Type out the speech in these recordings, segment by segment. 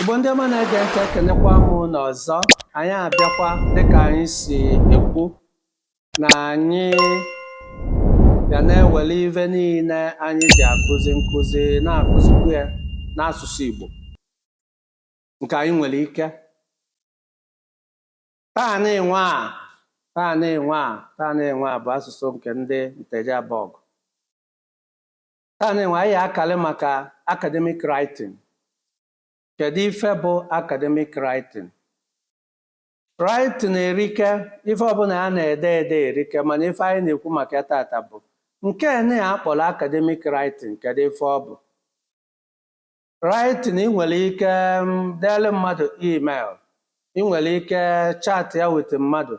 Igbo ndị ọma na-ege ntị ekenekwa m ụnụ ọzọ anyị abịakwa dịka anyị si ekwu na anyị ga na-ewere ife niile anyị ji akụzi nkụzi na-akụzikwu ya n'asụsụ Igbo nke anyị nwere ike taa nịnwa taa nịnwa taa nịnwa bụ asụsụ nke ndị Nteje Abọgụ Taa nịnwa anyị akali maka academic writing. Kedu ife bụ academic writing? Writing erike, ife ọbụla a na-ede ede erike mana ife anyị na-ekwu maka ya tata bụ nke nị a kpọrọ academic writing kedu ife ọ bụ? Writing, ị nwere ike um, deere mmadụ email, ị nwere ike chatịa with mmadụ,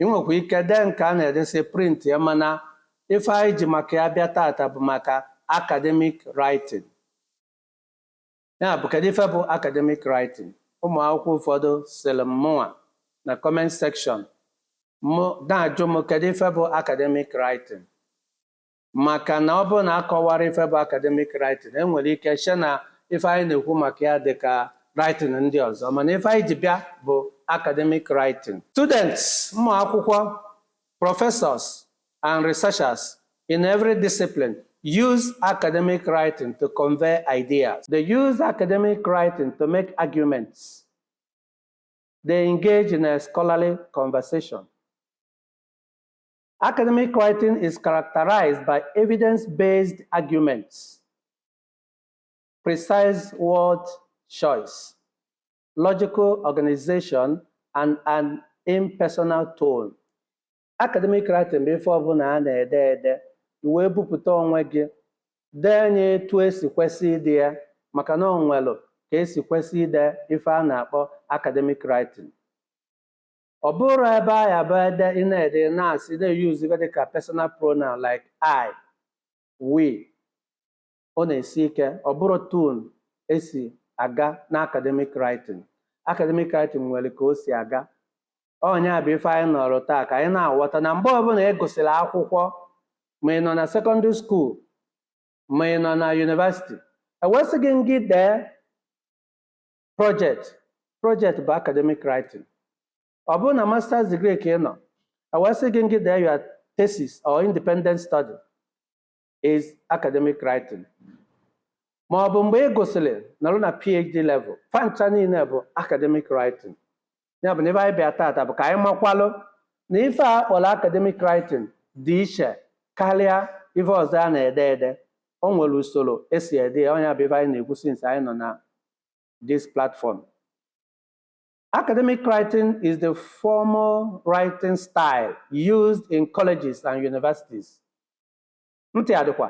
ị nwekwa ike dee nke a na-edesị printịa mana ife anyị ji maka ya bịa tata bụ maka academic writing. Ya bụ kedu ife bụ academic writing? Ụmụ akwụkwọ ụfọdụ siri mụnwa na comment section mụ na-ajụ m kedu ife bụ academic writing? maka na ọ bụrụ na akọwara ife bụ academic writing enwere ike che na ife anyị na-ekwu maka ya dị ka writing ndị ọzọ mana ife anyị ji bịa bụ academic writing students ụmụ akwụkwọ professors and researchers in every discipline use academic writing to convey ideas they use academic writing to make arguments they engage in a scholarly conversation Academic writing is characterized by evidence-based arguments, precise word choice, logical organization, and an impersonal tone. Academic writing bụ ife ọbụla a na-ede ede ị wee bupụta onwe gị dee nya etu esi kwesị ide ya maka na o nwelu ka esi kwesị ide ife a na-akpọ academic writing. ọ bụrọ ebe a ya-abụ ede ị na-ede na-asị na-eyuzu ife dịka personal pronoun like I, we ọ na-esi ike ọ bụrọ etu esi aga na academic writing academic writing nwere ka o si aga ọ nya bụ ife anyị nọrọ taa ka anyị na-aghọta na mgbe ọbụla ị gụsịrị akwụkwọ ma ị nọ na secondary school ma ị nọ na university e wee sị gị ngị dee project project bụ academic writing ọ bụrụ na masters degree ka ị nọ e wee sị gị ngị dee your thesis or independent study is academic writing ma ọ bụ mgbe ị gụsịrị nọrọ na phd level fa ncha niile bụ academic writing ya bụ na ife anyị bịa tata bụ ka anyị makwalụ na ife a kpọrọ academic writing dị iche karịa ife ọzọ a na-ede ede o nwere usoro esi ede ya ọ nya bụ ife anyị na-ekwu since anyị nọ na this platform Academic writing is the formal writing style used in colleges and universities. Ntị adịkwa.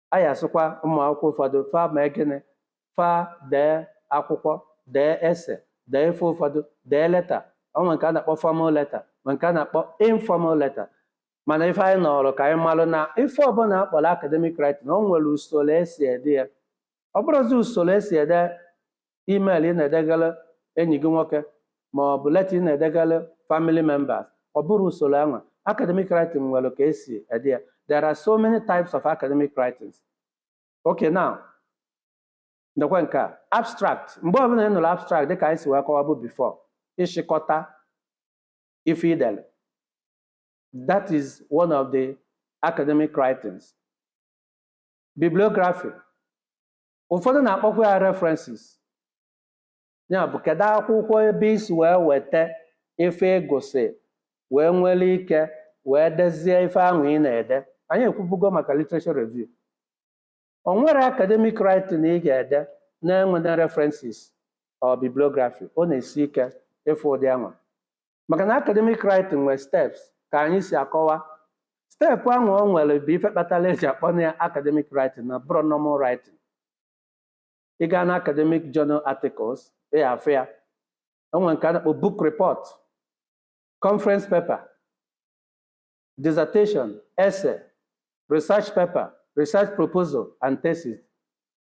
a ya-asịkwa ụmụ akwụkwọ ụfọdụ fa mee gịnị fa dee akwụkwọ dee essay dee ife ụfọdụ dee letter o nwee nke a na-akpọ formal letter ma nke a na-akpọ informal letter mana ife anyị nọrọ ka anyị malụ na ife ọbụla a kpọrọ academic writing o nwere usoro esi ede ya ọ bụrọzi usoro esi ede email ị na-edegara enyi gị nwoke ma ọ bụ letter ị na-edegara family members ọ bụrọ usoro anwa academic writing nwere ka esi ede ya there are so many types of academic writings okay now ndekwa nke a abstract mgbe ọbụla ị nụrụ abstract dịka anyị si wee kọwa bụ before ịchịkọta ife i dere that is one of the academic writings bibliography ụfọdụ na-akpọkwa ya references ya bụ kedu akwụkwọ ebe i si wee weta ife ị gụsị wee nwere ike wee dezie ife anwa ị na-ede anyị ekwubugo maka literature review o nwerọ academic writing ị ga-ede na-enwerọ references or bibliography ọ na-esi ike ịfụ ụdị anwa maka na academic writing nwere steps ka anyị si akọwa step anwa o nwere bụ ife kpatara eji akpọ ya academic writing na-abụrọ normal writing ị gaa na academic journal articles ị afụ ya o nwere nke a na-akpọ book report conference paper dissertation essay research paper research proposal and thesis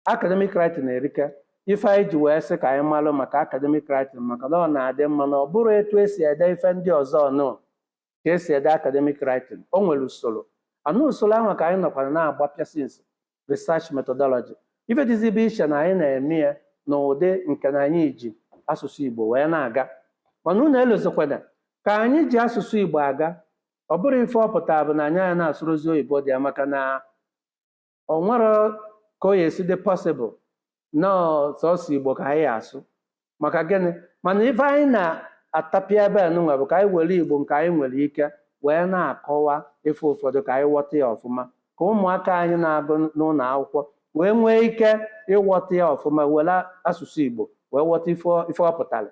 academic writing erika ife anyị ji wee sị ka anyị malụ maka academic writing maka na ọ na-adị mma na ọ bụrọ etu esi ede ife ndị ọzọ nụ ka esi ede academic writing o nwere usoro anụ usoro ahụ ka anyị nọkwara na-agbapịa since research methodology ife dịzi bụ iche na anyị na-eme ya n'ụdị nke na anyị ji asụsụ igbo wee na-aga mana unu elozikwana ka anyị ji asụsụ igbo aga ọ bụrụ ife ọ pụtara bụ na anyị ana-asụrọzi oyibo dị ya maka na o nwerọ ka ọ ya-esi dị possible na sọsọ igbo ka anyị ya-asụ maka gịnị mana ife anyị na-atapịa ebe a nụnwa bụ ka anyị were igbo nke anyị nwere ike wee na-akọwa ife ụfọdụ ka anyị ghọta ya ọfụma ka ụmụaka anyị na-agụ n'ụlọ akwụkwọ wee nwee ike ịghọta ya ọfụma were asụsụ igbo wee ghọta ife ọ- ife ọ pụtara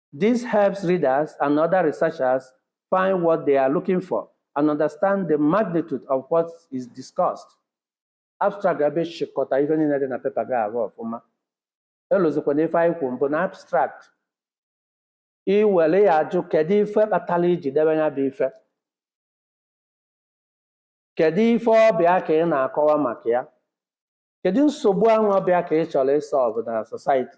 This helps readers and other researchers find what they are looking for and understand the magnitude of what is discussed. Abstract ga-abịa chịkọta ife niile dị na pepa ga-arụ ọfụma. Elozikwana ife anyị kwuru mbụ na abstract i were ya ajụ kedu ife kpatara i ji debe ya bụ ife kedu ife ọ bụ ya ka ị na-akọwa maka ya kedu nsogbu ahụ ọ bụ ya ka ị chọrọ ịsọlvụ na society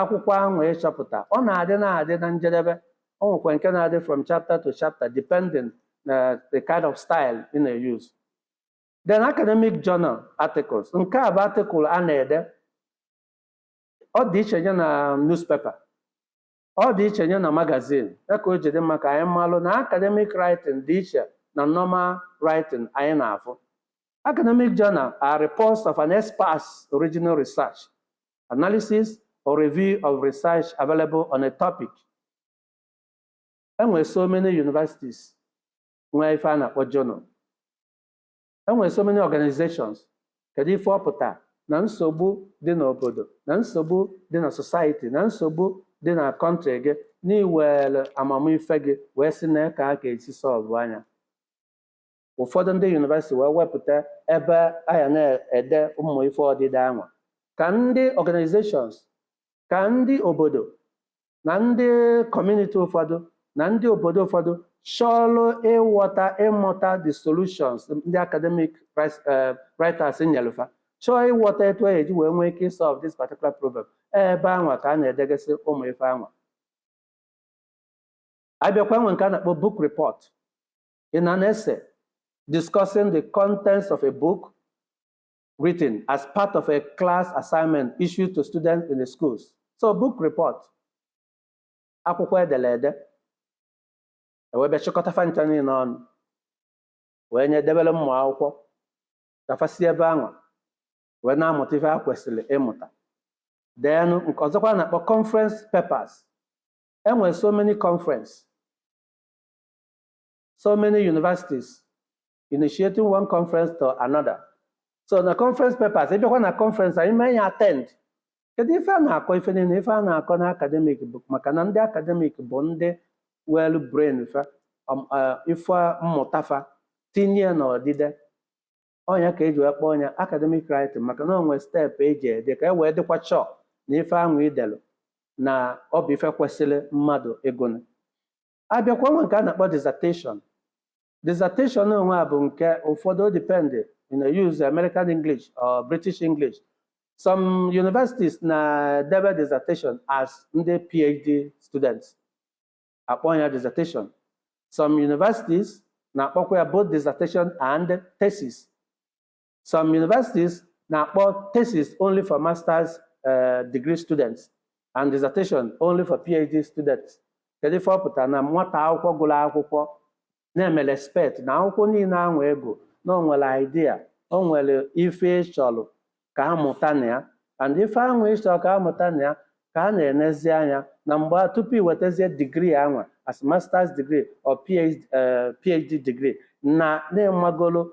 akwụkwọ ahụ ị chọpụta ọ na-adị na-adị na njedebe o nwekwa nke na-adị from chapter to chapter depending na the kind of style ị na-use then academic journal articles nke a bụ article a na-ede ọ dị iche nye na newspaper ọ dị iche nye na magazine ya ka o ji dị mma ka anyị malụ na academic writing dị iche na normal writing anyị na-afụ academic journal are reports of an expert's original research analysis or review of research available on a topic e nwere so many universities nwee ife a na-akpọ journal e nwere so many organizations kedu ife ọ pụta na nsogbu dị n'obodo na nsogbu dị na society na nsogbu dị na country gị na i were amamife gị wee sị na ka a ga-esi sọlvụa nya ụfọdụ ndị university wee wepụta ebe a ya na-ede ụmụ ife odide anwa ka ndị organizations ka ndị obodo na ndị community ụfọdụ na ndị obodo ụfọdụ chọrọ ịghọta ịmụta the solutions ndị academic wris- eh, writers nyelu fa chọọ ịghọta etu e ji wee nwee ike isolve this particular problem ebe anwa ka a na-edegasị ụmụ ife anwa a bịakwa nwee nke a na-akpọ book report in an essay discussing the contents of a book written as part of a class assignment issued to students in the schools. So book report, akwụkwọ e dere ede, e wee bịa chịkọta fa ncha niile ọnụ, wee nye debere ụmụ akwụkwọ, ka fa si ebe anwa, wee na-amụta ife ha kwesịrị ịmụta. Then nke ọzọ ka a na-akpọ conference papers. E nwere so many conference. so many universities initiating one conference to another so na conference papers ị bịakwa na conference anyị mee ya attend kedu ife a na-akọ ife niile ife a na-akọ na academic bụ maka na ndị academic bụ ndị welu brain fa um, uh, ife mmụta fa tinye ya n'odide ọ nya ka e ji wee kpọọ ya academic writing maka na o nwe step e ji ede ka e wee dịkwa sure na ife ahụ i delu na ọ bụ ife kwesịrị mmadụ ịgụnụ abịakwa nwee nke a na-akpọ dissertation dissertation anwa bụ nke ụfọdụ dependị you know, use American English or British English some universities na-edebe dissertation as ndị PhD students akpọ ya dissertation some universities na-akpọkwa ya both dissertation and thesis some universities na-akpọ thesis only for masters eh, degree students and dissertation only for PhD students kedu ife ọ pụtara na nwata akwụkwọ gụrụ akwụkwọ na-eme expect na akwụkwọ niile ahụ ị gụ na o nwere idea o nwere ife ị chọrọ ka a mụta na ya and ife ahụ ị chọrọ ka a mụta na ya ka a na-enezi anya na mgbe a- tupu i wetazie digri anwa as masters degree or PhD, eh, PhD degree na ị magolo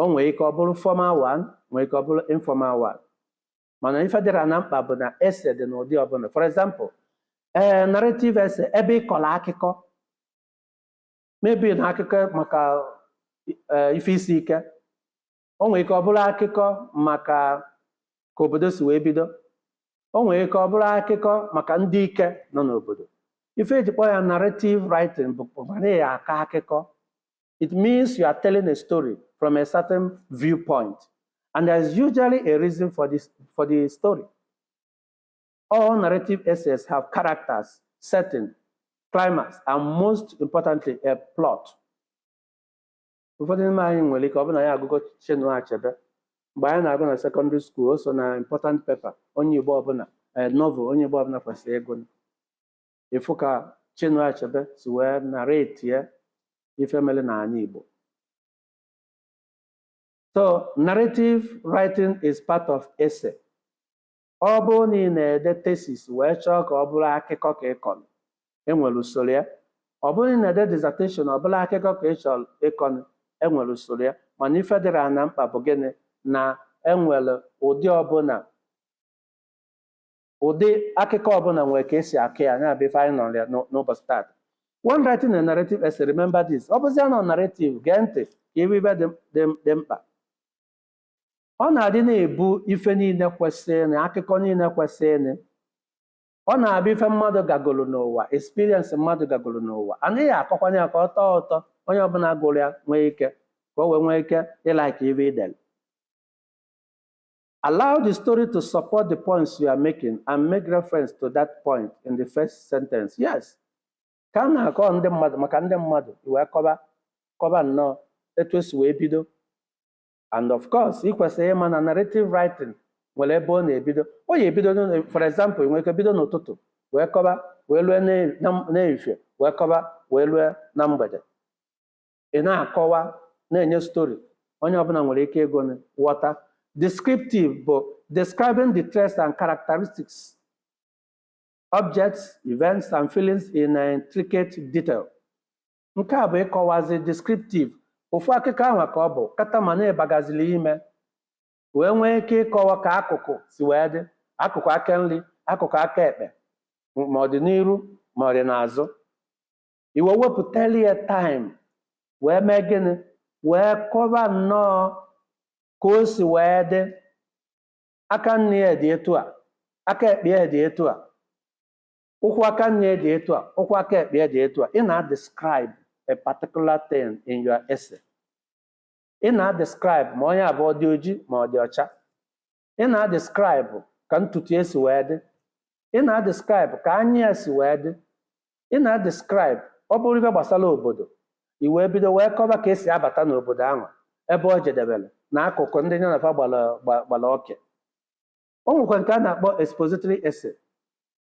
o nwere ike ọ bụrụ formal one nwere ike ọ bụrụ informal one mana ife dịra na mkpa bụ na essay dị n'ụdị ọbụla for example ee narrative essay ebe ị kọrọ akụkọ maybe na akụkọ maka eh, ife isi ike o nwere ike ọ bụrụ akụkọ maka ka obodo si wee bido o nwere ike ọ bụrụ akụkọ maka ndị ike nọ n'obodo ife eji kpọọ ya narrative writing bụ bụ na ya akọ akụkọ it means you are telling a story from a certain viewpoint. And there is usually a reason for this for the story. All narrative essays have characters, setting, climax, and most importantly, a plot. ụfọdụ n'ime anyị nwere ike ọ bụ na anyị agụgo Chinua Achebe mgbe anyị na-agụ na secondary school o so na important paper onye Igbo ọbụla eh, novel onye Igbo ọbụla kwesịrị ịgụ ịfụ ka Chinua Achebe si wee narrate ya ife mere n'anị Igbo so narrative writing is part of essay ọ bụrụ na ị na-ede thesis wee chọọ ka ọ bụrụ akụkọ ka ị kọrọ enwere usoro ya ọ bụrụ na ị na-ede dissertation ọ bụrụ akụkọ ka ị chọrọ ịkọnụ enwere usoro ya mana ife dịrị na mkpa bụ gịnị na enwere ụdị ọbụla ụdị akụkọ ọbụla nwere ka esi akọ ya nya bụ ife anyị nọrọ ya n'ụ- n'ụbọchị taata when writing a narrative essay remember this ọ bụzia na narrative gee ntị ka i were ife dị dị dị mkpa ọ na-adị na-ebu ife niile kwesịrị na akụkọ niile kwesịrị na ọ na-abụ ife mmadụ gagoro n'ụwa experience mmadụ gagoro n'ụwa anaghị akọkwanye ya ka ọ tọọ ụtọ onye ọbụla gụrụ ya nwee ike ka o wee nwee ike ịlike ife i dere Allow the story to support the points you are making and make reference to that point in the first sentence. Yes. Ka a na-akọ ndị mmadụ maka ndị mmadụ i wee kọba kọba nnọọ etu esi wee bido. And of course, ị kwesịrị ịma na narrative writing nwere ebe ọ na-ebido. Ọ ya ebido n'ụlọ- for example, ị nwere ike bido n'ụtụtụ wee kọba wee lue n'e- na- n'ehihie wee kọba wee lue na mgbede. ị na-akọwa na-enye story onye ọbụla nwere ike ịgụ na ghọta descriptive bụ describing the traits and characteristics objects events and feelings in intricate detail nke a bụ ịkọwazi descriptive ofu akụkọ ahụ ka ọ bụ kata mana ị bagazili ime wee nwee ike ịkọwa ka akụkụ si wee dị akụkụ aka nri akụkụ aka ekpe ma ọ dị n'iru ma ọ dị n'azụ i wee wepụtara ya time wee mee gịnị wee kọba nnọọ ka o si wee dị aka nri ya dị etu a aka ekpe ya dị etu a ụkwụ aka nri ya dị etu a ụkwụ aka ekpe ya dị etu a ị na-describe a particular thing in your essay ị na-describe ma ọ ya-abụ ọ dị oji ma ọ dị ọcha ị na-describe ka ntutu ya si wee dị ị na-describe ka anya ya si wee dị ị na-describe ọ bụrụ ife gbasara obodo i wee bido wee kọba ka esi abata n'obodo ahụ ebe o jedebere na akụkụ ndị ya na fa gbara gba- gbara oke o nwekwa nke a na-akpọ expository essay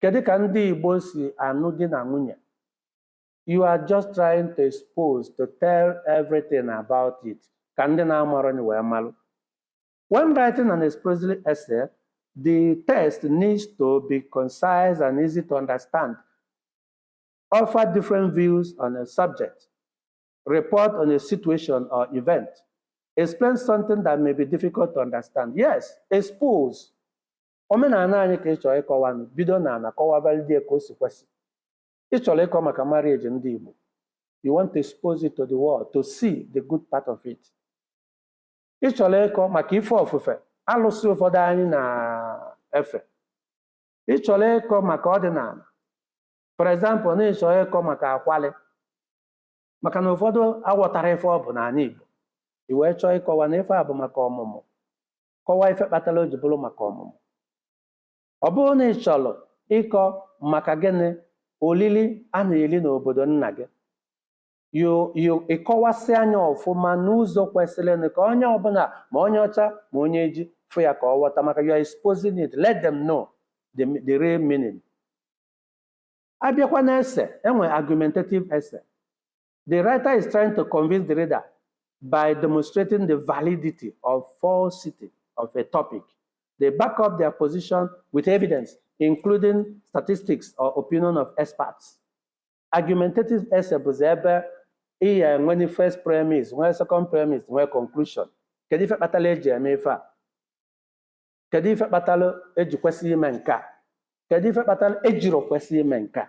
Kedu ka ndị Igbo si anụ di na nwunye? You are just trying to expose to tell everything about it ka ndị na-amarọnye wee malụ. When writing an expository essay, the text needs to be concise and easy to understand, offer different views on a subject, report on a situation or event, explain something that may be difficult to understand. Yes, expose. omenala anyị ka ị chọrọ ịkọwa nụ bido na ana kọwabalị ya ka o si kwesị ị chọrọ ịkọ maka marriage ndị Igbo you want to expose it to the world to see the good part of it ị chọrọ ịkọ maka ife ofufe alụsị ụfọdụ anyị na-efe ị chọrọ ịkọ maka ọdịnala for example na ị chọrọ ịkọ maka akwalị maka na ụfọdụ aghọtarọ ife ọ bụ n'ala Igbo i wee chọọ ịkọwa na ife a bụ maka ọmụmụ kọwaa ife kpatara o ji bụrụ maka ọmụmụ ọ bụrụ na ị chọrọ ịkọ maka gịnị olili a na-eli n'obodo nna gị yo yo ị kọwasịa nya ọfụma n'ụzọ kwesịrị nụ ka onye ọbụla ma onye ọcha ma onye oji fụ ya ka ọ ghọta maka you are exposing it let them know the, the real meaning a bịakwa na essay e nwee argumentative essay The writer is trying to convince the reader by demonstrating the validity or falsity of a topic. They back up their position with evidence, including statistics or opinion of experts. Argumentative essay bụ ebe ị ya enwe ni first premise, nwee second premise, nwee conclusion. Kedu ife kpatara eji eme ife a? Kedu ife kpatara eji kwesị ime nke a? Kedu ife kpatara ejiro kwesị ime nke a?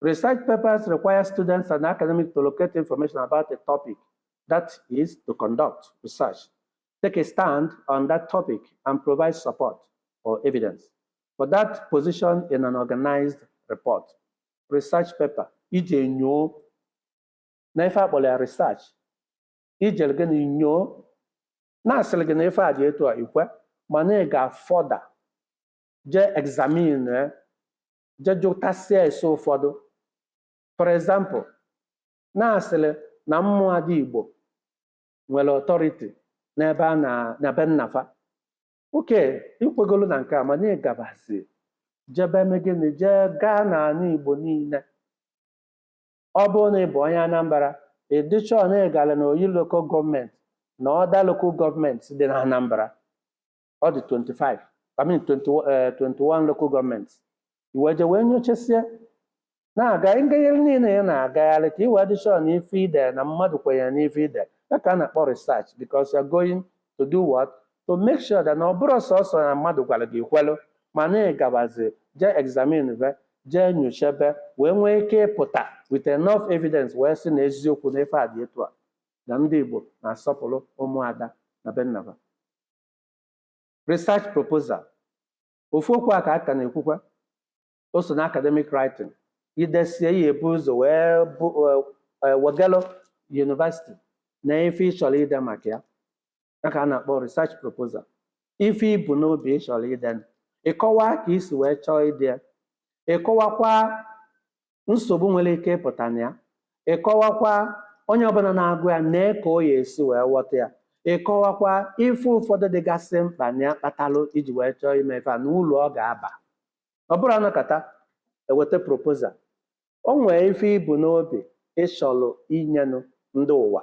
Research papers require students and academics to locate information about a topic, that is, to conduct research, take a stand on that topic, and provide support or evidence for that position in an organized report. Research paper, ije nyoo, na ife a kpọrọ ya research, ijere gịnị nyoo, na a sịrị gị na ife a dị etu a i kwe, mana ị gaa further jee examine je jụtasịa ese ụfọdụ for example na a sịrị na ụmụada igbo nwere authority n'ebe a na na be nna fa okay i kwegolu na nke a mana ị gabazi jebe eme gịnị jee gaa n'ana igbo niine ọ bụrụ na ị bụ onye anambra ị dị sure na ị gara na oyi local government na other local government dị na anambra ọ dị 25 I mean 20, eh, 21 local government i wee je wee nyochasie na-aga ngagharị niile ya na-agagharị ka i wee dị sure na ife ide na mmadụ kwenyere n'ife ide ya ka a na-akpọ research because you're going to do what to make sure that na ọ bụrọ sọsọ na mmadụ gwara gị kwelụ mana ị gabazi jee examinebe jee nyochebe wee nwee ike ịpụta with enough evidence wee sị na eziokwu na ife a dị etu a na ndị Igbo na-asọpụrụ ụmụada na be nna fa research proposal ofu okwu a ka a ka na-ekwukwa o so na academic writing i desie ya e bu ụzọ wee wegalụ university na ife ị chọrọ ide maka ya ya ka a na-akpọ research proposal ife i bu n'obi ị chọrọ ide ịkọwa ka i si wee chọọ ide ya ịkọwakwa nsogbu nwere ike ịpụta na ya ịkọwakwa onye ọbụla na-agụ ya nee ka ọ ya esi wee ghọta ya ịkọwakwa ife ụfọdụ dịgasị mkpa na ya kpatalụ i ji wee chọọ ime ife a na ulu ọ ga-aba ọ bụrọ a nọkata e weta proposal o nwee ife i bu n'obi ị chọlụ inyenụ ndị ụwa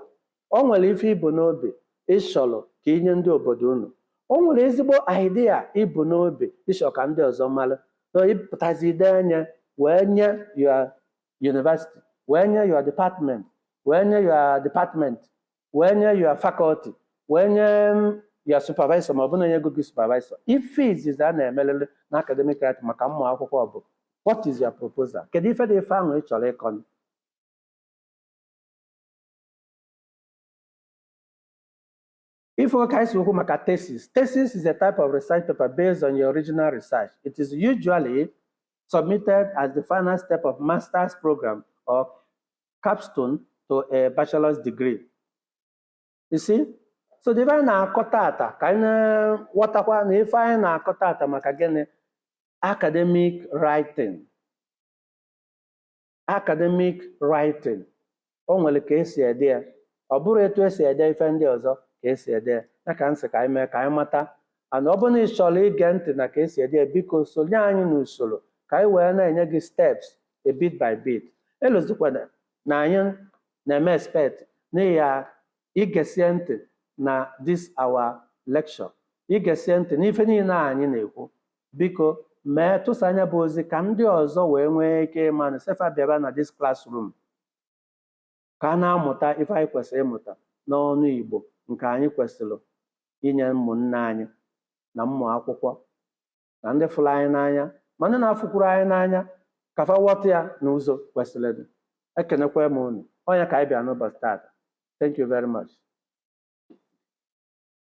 o nwere ife i bu n'obi ị chọrọ ka i nye ndị obodo unu o nwere ezigbo idea i bu n'obi ị chọrọ ka ndị ọzọ mara so ị pụtazi i dee ya wee nye your university wee nye your department wee nye your department wee nye your faculty wee nye mm, your supervisor ma ọ bụ na e nyego gị supervisor ife izizi a na-emerịrị na academic writing maka ụmụ akwụkwọ bụ what is your proposal kedu ife dị ife ahụ ị chọrọ ịkọ If we can talk about thesis, thesis is a type of research paper based on your original research. It is usually submitted as the final step of master's program or capstone to a bachelor's degree. You see? So the very na-akọ tata ka anyị na-ghọtakwa na ife anyị na-akọ tata maka gịnị academic writing academic writing o nwere ka e si ede ya ọ bụrọ etu e si ede ife ndị ọzọ ka e si ede ya ya ka m sị ka anyị mee ka anyị mata and ọ bụrụ na ị chọrọ ige ntị na ka e si ede ya biko sonye anyị n'usoro ka anyị wee na-enye gị steps a bit by bit elozọkwana na anyị na-eme expect na ị ya igesie ntị na this our lecture igesie ntị n'ife niile a anyị na-ekwu biko mee tụsaa nya bụ ozi ka ndị ọzọ wee nwee ike ịma na sị fa bịaba na this classroom ka a na-amụta ife anyị kwesịrị ịmụta n'ọnụ Igbo nke anyị kwesịrị inye ụmụnne anyị na ụmụ akwụkwọ na ndị fụrụ anyị n'anya ma ndị na-afụkwuru anyị n'anya ka fa ghọta ya n'ụzọ kwesịrị ekenekwa m unu onye ka anyị bịa n'ụbọchị taata thank you very much